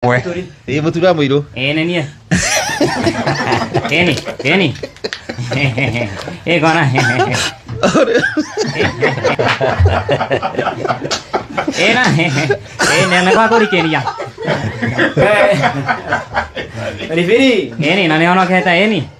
mwe ä må tura må irå Eh, nĩ niĩ. Keni, Keni. Eh, kona. Eh, na. Eh, nĩ nĩ kwa kũrikĩria. Ribiri. Eni, na nĩ onokete eni.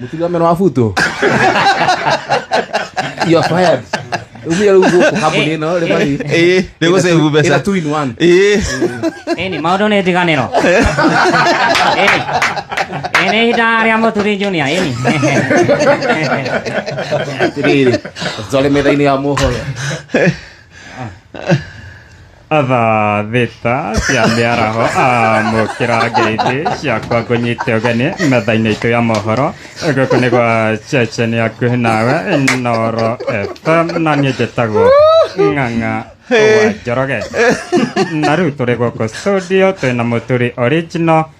mũturi wa meno wa buto you are fired umia rĩu gũkũ kambuni ĩno rĩ mari Ĩĩ, nĩ gũcĩbu ĩna mbeca two in one Ĩĩ. ĩni maũndũ nĩ ndiganĩro ĩni ĩni ihinda rĩa mũturi junior ĩni atĩrĩrĩ twarĩ metha-inĩ ya mohoro thaa thita cia mĩaraho amũkĩra ngeithi ciakwa ngũnyite ũgeni metha-inĩ itũ ya mohoro gũkũ nĩ gwa ceceni yakuhĩ nawe noro fm na niĩ njĩtagwo ng'ang'a wa njoroge na rĩu tũrĩ gũkũ studio twĩna mũturi original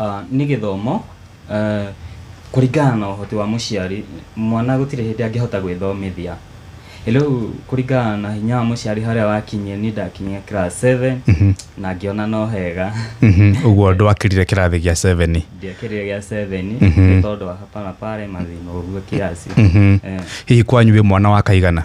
Ah, nĩ gĩthomo eh, kũringana na ũhoti wa mũciari mwana gũtirĩ hĩndĩ angĩhota gwĩthomithia rĩu kũringana na hinya wa mũciari harĩa wakinyie niĩ ndakinyia class 7 na ngĩona no hega Mhm, ũguo ndwakĩrire kĩrathi gĩa 7 ndiakĩrire gĩa 7 nĩ tondũ wa hapa na pale mathĩna ũguo kiasi Mhm. Eh, hihi kwanyu wĩ mwana wa kaigana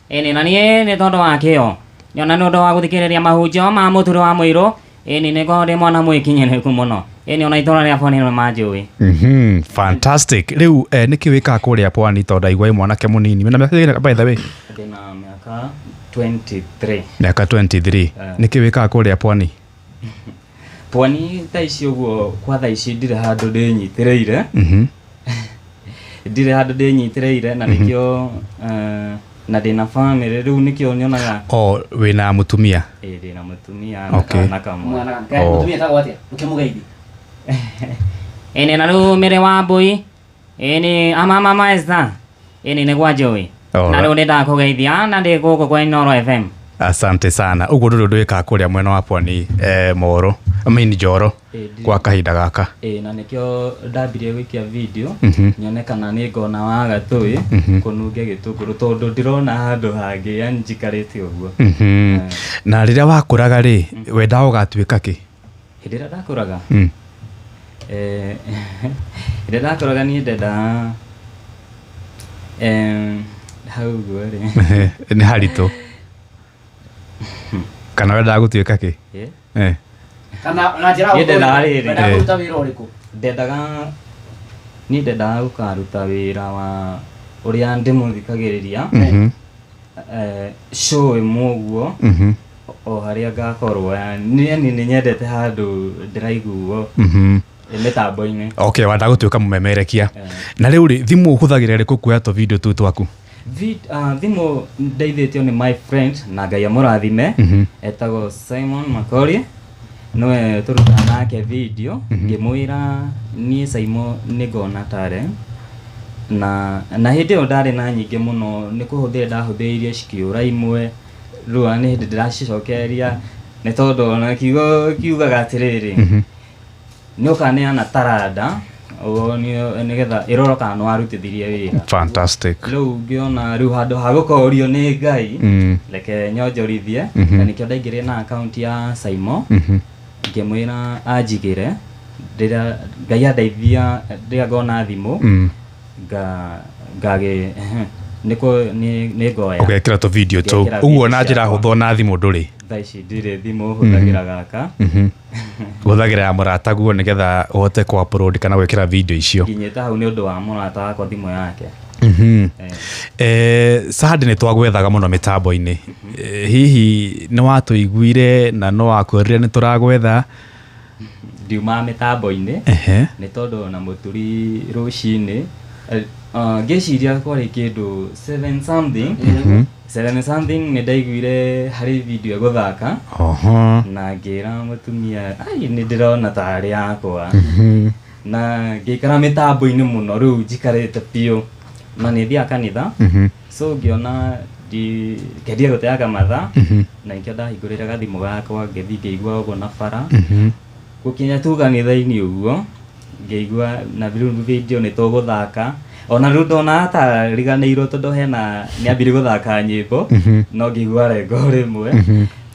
Ĩni na niĩ nĩ tondũ wa kĩo, o na nĩ ũndũ wa gũthikĩrĩria mahunjio ma mũturi wa mũirũ, ĩni nĩ ngoragwo ndĩ mwana mwĩkinyĩrĩku mũno, ĩni o na itũũra rĩa Pwani nĩ manjũĩ. Mhm, fantastic. Rĩu eh, nĩkĩ wĩkaga kũrĩa Pwani tondũ ndaigua wĩ mwanake mũnini. Wĩna mĩaka ĩigana by the way? Ndĩ na mĩaka 23. Mĩaka 23. Eh. Nĩkĩ wĩkaga kũrĩa Pwani? pwani thaa ici ũguo kwa thaa ici ndirĩ handũ ndĩnyitĩrĩire Mhm. ndirĩ handũ ndĩnyitĩrĩire na nĩkĩo eh, na ndĩna bamĩrĩ rĩu nĩkĩo nyonaga o wĩna mũtumia ĩ ndĩna mũtumia Okay. na kana kamwe mwana Oh. mũtumia etagwo atĩa ũkĩmũgeithia ene na rumire wa mbui Ini amama maesta. Ini nĩ gwa Joey. Na Alright. rĩu nĩ ndakũgeithia na ndĩ gũkũ kwa Inoro FM. asante sana uguo ndu ndu ikaga kuria mwena wa pwani eh, moru I mean njoro Ĩndĩ. kwa kahinda gaka Ĩĩ, na nĩkĩo ndambirie gũikia video Mhm. nyone kana nĩ ngona wa gatũĩ Mhm. kũnunge gĩtũngũrũ tondũ ndirona handũ hangĩ yani njikarĩte ũguo Mhm. na rĩrĩa wakũraga rĩ wendaga ũgatuĩka kĩ hĩndĩ ĩrĩa ndakũraga Mm. eh, hĩndĩ ĩrĩa ndakũraga niĩ ndendaga em, hau ũguo rĩ Ehe, nĩ haritũ kana wendaga gũtuĩka kĩ Eh, Eh, kana na njĩra Niĩ ndendaga rĩrĩ. ndendaga Eh. kũruta wĩra ũrĩkũ ndendaga niĩ ndendaga gũkaruta wĩra wa ũrĩa ndĩmũthikagĩrĩria mhm, eh, show ĩmwe ũguo mhm. o harĩa ngakorwo yani nĩ nĩ nyendete handũ ndĩraiguo Mhm. ĩ mĩtambo-inĩ okay wenda gũtuĩka mũmemerekia Eh. na rĩu rĩ thimũ ũhũthagĩra rĩkũ kuoya tũvideo tũu twaku Vi- ah, thimũ ndeithĩtio nĩ my friend na ngai amũrathime Mhm. etagwo simon makori nĩwe tũrutaga nake video ngĩmwĩra niĩ saimo nĩ ngona tare na na hĩndĩ ĩyo ndarĩ na nyingĩ mũno nĩ kũhũthĩra ndahũthĩrire cikĩũra imwe rĩu ona nĩ hĩndĩ ndĩracicokereria nĩ tondũ ona kiugo kiugaga atĩrĩrĩ Mhm. nĩ ũkaneana taranda ũguo nĩ- nĩgetha ĩrora kana nĩ warutithirie wĩra fantastic rĩu ngĩona rĩu handũ ha gũkorio nĩ ngai Mm. reke nyonjorithie Mhm. na nĩkĩo ndaingĩrire na akaunti ya saimo Mhm. ngĩmwĩra anjigĩre rĩrĩa ngai andeithia rĩrĩa ngona thimũ Mm. ngagä nä ngoya ũgekĩra tũ video tũu Ngekĩra ũguo video na njĩra ciakwa. hũthũ na thimũ ndũrĩ thaa ici ndirä thimå hå thagä ra gaka hũthagĩra ya mũrata guo nĩgetha ũhote kũ upload kana gwĩkĩra video icio nginyä te hau nä å ndå wa må rata wakwa thimå yake Mhm. Eh. Eh, sahandi nä twagwethaga må no mä tambo-inä hihi nä watå iguire na no wakwärire nä tå ragwetha ndiumaga mĩtambo-inĩ Ehe. nĩ tondũ na mũturi rũcinĩ eh, ah, ngĩciria kwarĩ kĩndũ seven something seven something nĩ ndaiguire harĩ video ĩgũthaka Oho. na ngĩra mũtumia ai nĩ ndĩrona tarĩ yakwa Mhm. na ngĩikara mĩtambo-inĩ mũno rĩu njikarĩte biũ na nĩ thiaga kanitha Mhm. so ngĩona ndi- ngendia gũteaga mathaa Mhm. na nĩkĩo ndahingũrĩra gathimũ gakwa ngĩthiĩ ngĩigua ũguo na bara Mhm. gũkinya tu kanitha-inĩ ũguo ngĩigua na rĩu video nĩ tũgũthaka ona rĩu ndonaga ta riganĩirwo tondũ hena nĩ ambire gũthaka nyĩmbo Mhm. no ngĩigua rengo rĩmwe Mhm.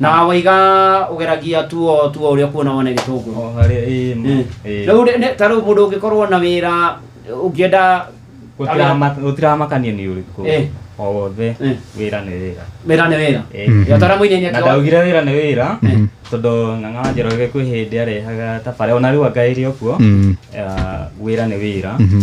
na waiga ũgeragia tuo tuo ũrĩa kuona wone gĩtũngũrũ o harĩa ĩĩ ma Mm. ĩĩ. rĩu nĩ- nĩ- ta rĩu mũndũ ũngĩkorwo na wĩra ũngĩenda Gũtirama- gũtiramakania nĩ ũrĩkũ Eh. o wothe Eh. wĩra nĩ wĩra wĩra nĩ wĩra Eh. Mhm. ya tara mũinini na ndaugire wĩra nĩ wĩra Mhm. tondũ ng'ang'a wa njoroge kwĩ hĩndĩ arehaga tabarĩra ona rĩu angaĩrĩ okuo Mhm. ah, wĩra nĩ wĩra Mhm.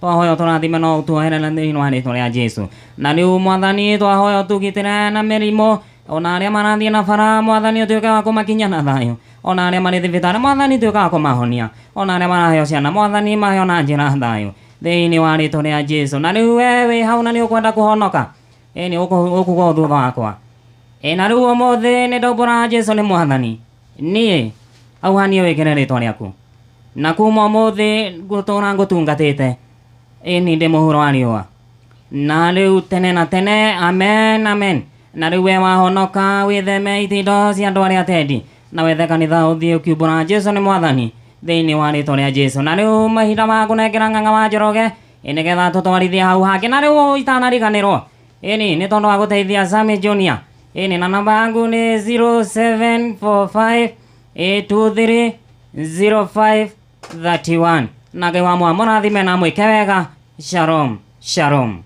twahoya tũrathime no ũtuoherere thĩinĩ wa rĩtwa rĩa jesu na rĩu mwathani twahoya ũtugitĩre na mĩrimũ ona arĩa marathiĩ na bara mwathani ũtuĩke wa kũmakinya na thayũ ona arĩa marĩ thibitarĩ mwathani tuĩka wa kũmahonia ona arĩa maraheo ciana mwathani maheo na njĩra thayũ thĩinĩ wa rĩtwa rĩa jesu na rĩu we wĩ hau na nĩ ũkwenda kũhonoka ĩni ũkugwo thutha wakwa ĩna rĩu ũmũthĩ nĩ ndaumbũra jesu nĩ mwathani niĩ auhanie wĩkĩre rĩtwa rĩaku na kuma ũmũthĩ ngũtũra ngũtungatĩte ĩni ndĩ mũhuro wa riũa na rĩu tene na tene amen amen na rĩu we wahonoka wĩtheme itindo cia andũ arĩa atendi na wethe kanitha ũthiĩ ũkiumbũra jesu nĩ mwathani thĩinĩ wa rĩtwa rĩa jesu na rĩu mahinda ma kũnengera ng'ang'a wa njoroge ĩ nĩgetha tũtwarithie hau hangĩ na rĩu itanariganĩrwo Ĩni nĩ tondũ wa gũteithia Sami Junior. Ĩni na namba yangu nĩ 0745 823 0531 na Ngai wa mwa mũrathime na mwĩke wega shalom shalom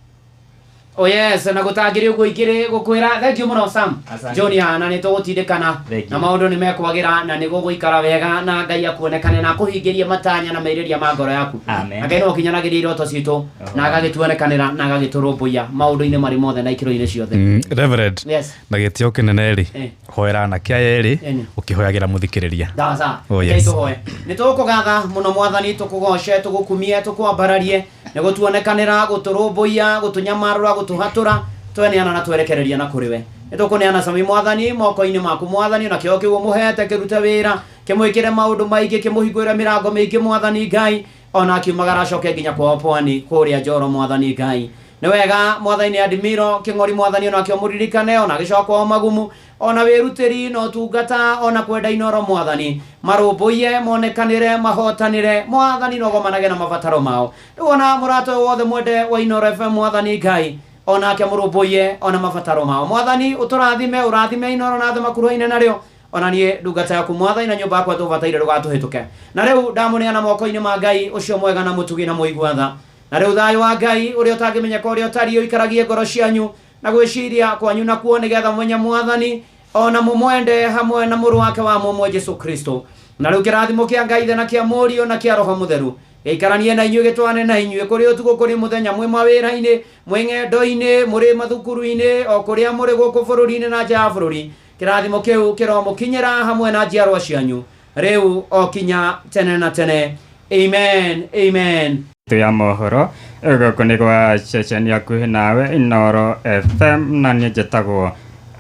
Oh yes, na gũtangĩrĩ ũguo ingĩrĩ gũkwĩra thank you mũno Sam Asante. Junior na nĩ tũgũtindĩkana Thank you. na maũndũ nĩ mekwagĩra na nĩ gũgũikara wega na Ngai akuonekane na akũhingĩrie matanya na merirĩria ma ngoro yaku Amen. Na Ngai nĩ wakinyanagĩria iroto citũ na agagĩtuonekanĩra na agagĩtũrũmbũiya maũndũ-inĩ marĩ mothe na ikĩro-inĩ ciothe Mm, Reverend, Yes. na gĩtio kĩnene rĩ Eh. hoera anake aya erĩ Eni. ũkĩhoyagĩra mũthikĩrĩria sawa sawa Oh, yes. Rekei tũhoe nĩ tũkũgatha mũno mwathani tũkũgoce tũgũkumie tũkwambararie nĩ gũtuonekanĩra gũtũrũmbũiya gũtũnyamarũra gũtũhatũra tweneana na twerekereria na kũrĩ we nĩ tũkũneana cami mwathani moko-inĩ maku mwathani na kĩo kĩu ũmũhete kĩrute wĩra kĩmwĩkĩre maũndũ maingĩ kĩmũhingũre mĩrango mĩingĩ mwathani ngai ona akiumagara acoke nginya kwao pwani kũrĩa njoro mwathani ngai nĩ wega mwathani nĩ admiro kĩng'ori mwathani ona kĩo mũririkane ona gĩcoka kwao magumu ona wĩrutĩri na ũtungata ona kwenda inoro mwathani marũmbũiye monekanĩre mahotanĩre mwathani nogomanage na mabataro mao rĩu ona mũrata ũyũ wothe mwende wa inoro fm mwathani ngai onake mũrũmbũiye ona mabataro mao mwathani ũtũrathime ũrathime inoro na thĩ makuruhaine narĩo o na niĩ ndungata yaku mwathani na nyũmba yakwa tũbataire ndũgatũhĩtũke. Na rĩu ndamũneana moko-inĩ ma Ngai ũcio mwega na mũtugi na mũigua tha. Na rĩu thayũ wa Ngai, ũrĩa ũtangĩmenyeka ũrĩa ũtariĩ, ũikaragie ngoro cianyu na gwĩciiria kwanyu nakuo, nĩ getha mũmenye mwathani, o na mũmwende, hamwe na Mũrũ wake wa mũmwe, Jesu Kristo. Na rĩu kĩrathimo kĩa Ngai Ithe na kĩa Mũriũ na kĩa Roho Mũtheru gĩikaranie na inyuĩ, gĩtwarane na inyuĩ kũrĩ ũtukũ, kũrĩ mũthenya, mwĩ mawĩra-inĩ, mwĩ ng'endo-inĩ, mũrĩ mathukuru-inĩ, o kũrĩa mũrĩ gũkũ bũrũri-inĩ na nja ya bũrũri. Kĩrathimo kĩu kĩromũkinyĩra hamwe na njiarwa cianyu rĩu o kinya tene na tene. Amen, amen. ya mohoro gũkũ nĩ gwa ceceni hakuhĩ nawe inoro fm na niĩ njĩtagwo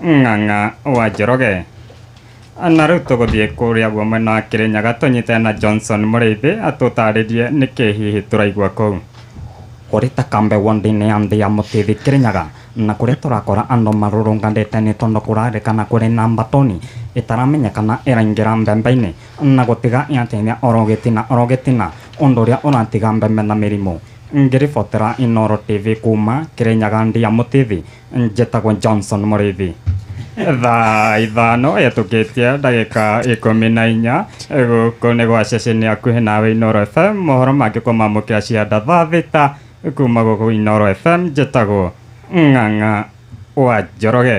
ng'ang'a wa njoroge na rĩu tũgũthiĩ kũrĩa guo mwena wa kĩrĩnyaga tũnyite na johnson mũrĩithi atũtarĩrie nĩkĩ hihi tũraigua kũu Kũrĩ Takambe wondi-inĩ ya Ndhiamũtithi Kĩrĩnyaga, Na kũrĩa tũrakora andũ marurunganĩte nĩ tondũ kũrarĩkana kũrĩ na mbatoni ĩtaramenyekana ĩraingĩra mbembe-inĩ na gũtiga yatenya oro gĩtina oro gĩtina ũndũ ũrĩa ũratiga mbembe na mĩrimũ. Ngĩribotera Inooro TV kuuma Kĩrĩnyaga Ndia Mũtithi, njĩtagwo Johnson Mũrĩithi. Thaa ithano hetũkĩtie ndagĩka ikũmi na inya gũkũ nĩ gwa ceceni hakuhĩ nawe Inooro FM, mohoro mangĩkũmamũkĩra cianda thaa thita Kuma gũkũ Inoro FM njĩtagwo Ng'ang'a wa Njoroge.